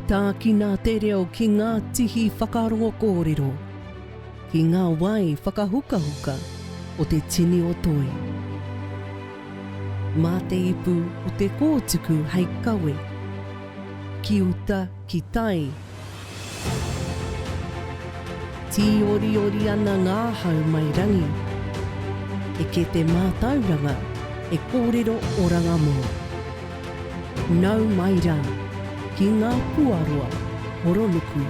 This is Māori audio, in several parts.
Tākina te reo ki ngā tihi whakarongo kōrero, ki ngā wai whakahukahuka o te tini o Toi. Mā te ipu o te kōtuku hei kawe, ki uta, ki tai, Tīoriori ana ngā hau mai rangi. Eke te mātauranga e kōrero oranga mō. Nau mai rā ki ngā puaroa horonuku.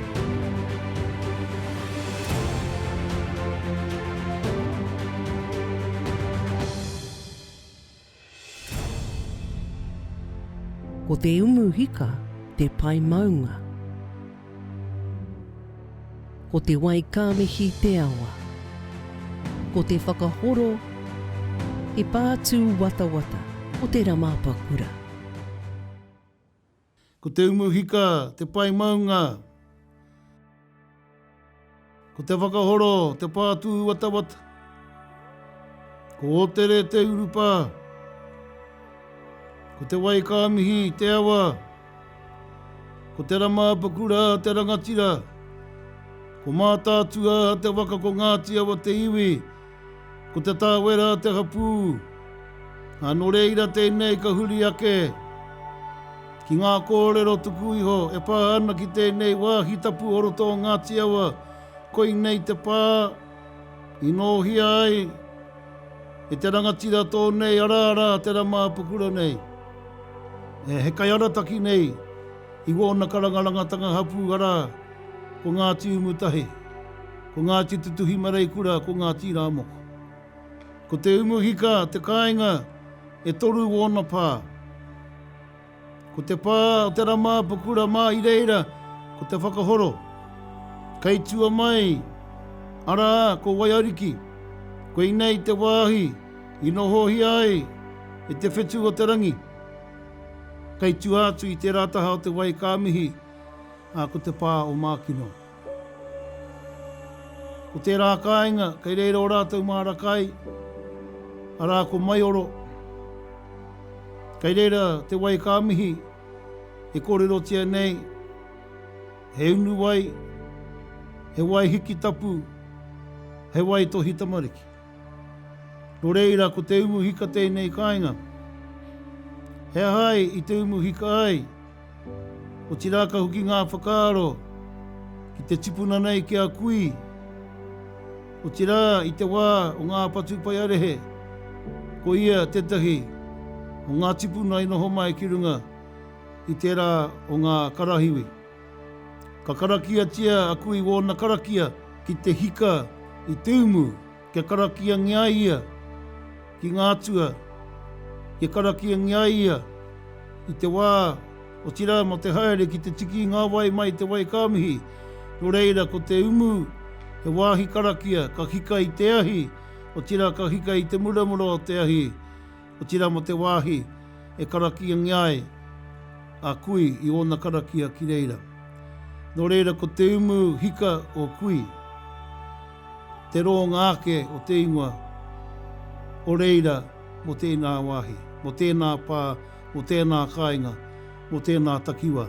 Ko te umu hika te pae maunga. Ko te wai ka mihi te awa. Ko te whakahoro te pātū watawata o te Ramapakura. Ko te umu hika te pae maunga. Ko te whakahoro te pā tūwatawata. Ko Otere te urupā. Ko te wai kā mihi te awa. Ko te rama apakura te rangatira. Ko Mātaatua te waka ko Ngāti Awa te iwi. Ko Te Tāwera te hapū, ā, nō reira tēnei ka huri ake ki ngā kōrero tuku iho e pā ana ki tēnei wāhi tapu o roto o Ngāti Awa, koinei te pā i nōhia ai e te rangatira tō nei ara rā te rama apakura nei. He kai arataki nei i wōna karangarangatanga hapū arā, ko Ngāti Umutahi. Ko Ngāti Tutuhi Mareikura ko Ngāti Rāmoko. Ko Te Umuhika te kāinga e toru o ōna pā. Ko te pā o Te Ramāpukura mā i reira ko Te Whakahoro. Kei tua mai, arā, ko Waiariki. Koinei te wāhi i nohohia ai e Te Whetu o te Rangi. Kei tua atu i tērā taha o Te Wai ka mihi, ā, ko te pā o Mākino. Ko tērā kāinga, kei reira o rātou māra kai, arā ko Maioro. Kei reira te wai ka mihi e kōrerotia nei he unu wai, he wai hiki tapu, he wai tohi tamariki. Nō reira ko te umu hika tēnei kāinga. He aha ai i te umu hika ai? Otirā ka hoki ngā whakaaro ki te tipuna nei ki a kui, otirā i te wā o ngā patupaiarehe, ko ia tētahi o ngā tipuna i noho mai ki runga i tērā o ngā karahiwi. Ka karakiatia a kui wōna karakia ki te hika i te umu. Kia karakiangia ia ki ngā atua, kia karakiangia ia i te wā, otirā mō te haere ki te tiki i ngā wai mai i te wai ka mihi. Nō reira, ko te umu, he wāhi karakia, ka hika i te ahi, otirā ka hika i te muramura o te ahi. Otirā mō te wāhi e karakiangia ai a Kui i ōna karakia ki reira. Nō reira ko te umu hika o Kui te rōnga ake o te ingoa o reira mō tēnā wāhi, mō tēnā pā, mō tēnā kāinga, mō tēnā takiwā.